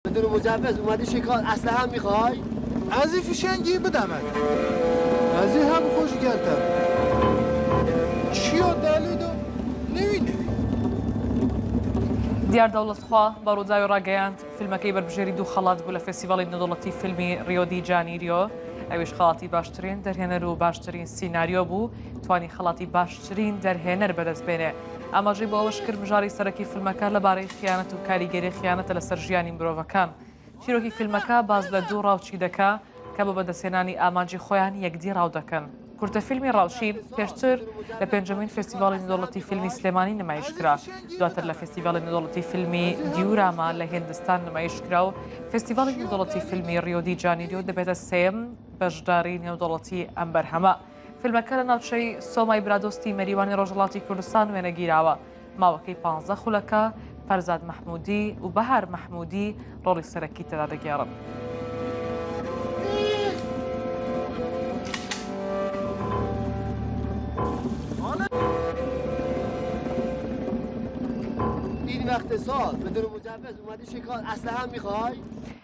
بدون مجوز اومدی چی کار اسلحه هم میخوای؟ ازی فشنگی بدمت ازی هم خوش گلتم چیا دلی دو نوی نوی. دیار دەوڵەت خوا بە ڕووداوی ڕاگەیاند فیلمەکەی بەربژێری دوو خەڵات بوو لە فێسیڤڵی نەدەوڵەتی فیلمی ڕیۆدی جانیریۆ ئەویش خەڵاتی باشترین دەرهێنەر و باشترین سینناریۆ بوو توانی خەڵاتی باشترین دەرهێنەر بەدەست بێنێ ئاماژەی بۆ ئەوەشکرد، مژاری سەرەکی فیلمەکە لەبارەی خیانەت و کاریگەری خیانەتە لەسەر ژیانی مرۆڤەکان. چیرۆکی فیلمەکە باس لە دوو ڕاوچی دەکا کە بە بەدەستهێنانی ئامانجی خۆیان یەکدی ڕاو دەکەن. کورتەفیلمی ڕاوچی پێشتر لە پێنجەمین فێستیڤاڵی نێودەوڵەتی فیلمی سلێمانی نمایش کرا، دواتر لە فێستیڤاڵی نێودەوڵەتی فیلمی دیوراما لە هێندستان نمایش کرا و فێستیڤاڵی نێودەوڵەتی فیلمی ڕیۆ دی جانیریۆ دەبێتە سێیەم بەشداری نێودەوڵەتی ئەم بەرهەمە. فیلمەکە لە ناوچەی سۆمای برادۆستی مەریوانی ڕۆژهەڵاتی کوردستان وێنەگیراوە، ماوەکەی پانزدە خولەکە، فەرزاد مەحموودی و بەهار مەحموودی ڕۆڵی سەرەکی تێدا دەگێڕن. این وقت سال بدون مجوز اومدی شکار اسلحه میخوای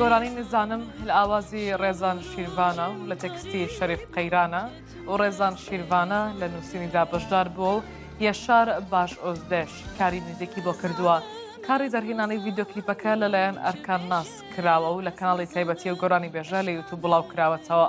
گۆرانی نزانم هل ئاوازی ڕێزان شیرڤانە و لە تێکستی شەریف قەیرانە و ڕێزان شیرڤانە لە نووسینیدا بەشدار بووە و یەشار باش ئۆزدێش کاری میوزیکی بۆ کردووە کاری دەرهێنانی ڤیدۆکلیپەکە لەلایەن ئەرکان ناس کراوە و لە کەناڵی تایبەتی و گۆرانی بێژە لە یوتوب بڵاو کراوەتەوە.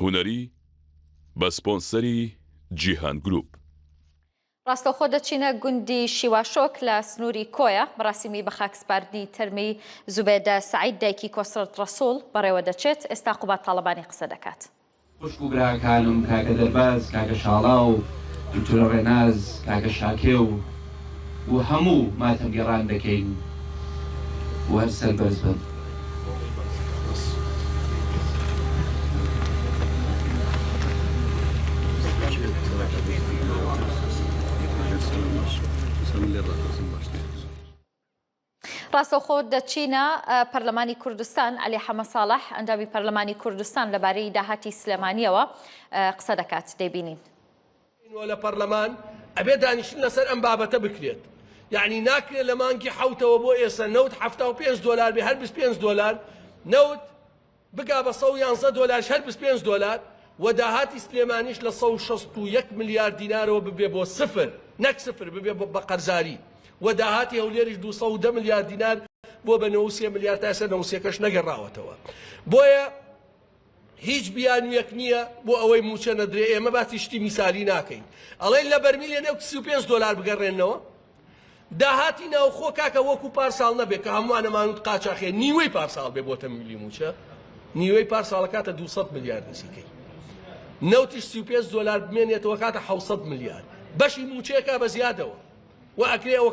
هونەری بە سپۆنسەری جیهان گروپ. ڕاستەوخۆ دەچینە گوندی شیواشۆک لە سنووری کۆیە، مەراسیمی بەخاکسپاردنی تەرمی زوبێدە سەعید دایکی کۆسرەت ڕەسوڵ بەڕێوەدەچێت، ئێستا قوباد تاڵەبانی قسە دەکات. خوشک و براکانم کاکە دەرباز کاکە شاڵاو دکتورە ڕێناز کاکە شاکێ و و هەموو ماتەم گێڕان دەکەین و هەر سەربەرز بن. ڕاستەوخۆ دەچینە پەرلەمانی کوردستان، عەلی حەمە ساڵح، ئەندامی پەرلەمانی کوردستان لەبارەی داهاتی سلێمانییەوە قسە دەکات، دەیبینین. و لە پەرلەمان ئەبێ دانیشتن لەسەر ئەم بابەتە بکرێت، یەعنی ناکرێ لە مانگی حەوتەوە بۆ ئێسە نەوت حەفتا و پێنج دۆلار بێ، هەر بیست و پێنج دۆلار نەوت بگا بە سەد و یانزە دۆلاریش هەر بیست و پێنج دۆلار و داهاتی سلێمانیش لە سەد و شەست و یەک ملیار دینارەوە ببێ بۆ سفر، نەک سفر ببێ بە قەرزاری و داهاتی هەولێریش دوو سەد و دە ملیار دینار بووە بە نەوە و سێ ملیار تا ئێستا نەوە و سێکەش نەگەڕاوەتەوە بۆیە هیچ بیانویەک نییە بۆ ئەوەی موچە نەدرێ ئێمە باسی شتی میسالی ناکەین ئەڵێن لە بەرمیلێ نەوت سی و پێنج دۆلار بگەڕێنەوە داهاتی ناوخۆ کاکە وەکو پارساڵ نەبێ کە هەمووان ئەمانوت قاچاخێ نیوەی پارساڵ بێ بۆتە ملی موچە نیوەی پارساڵە کاتە 200 ملیار نزیکەی نەوتیش 35 دۆلار بمێنێتەوە کاتە 600 ملیار بەشی موچەیەکە بە زیادەوە و ئەکرێ ئەوە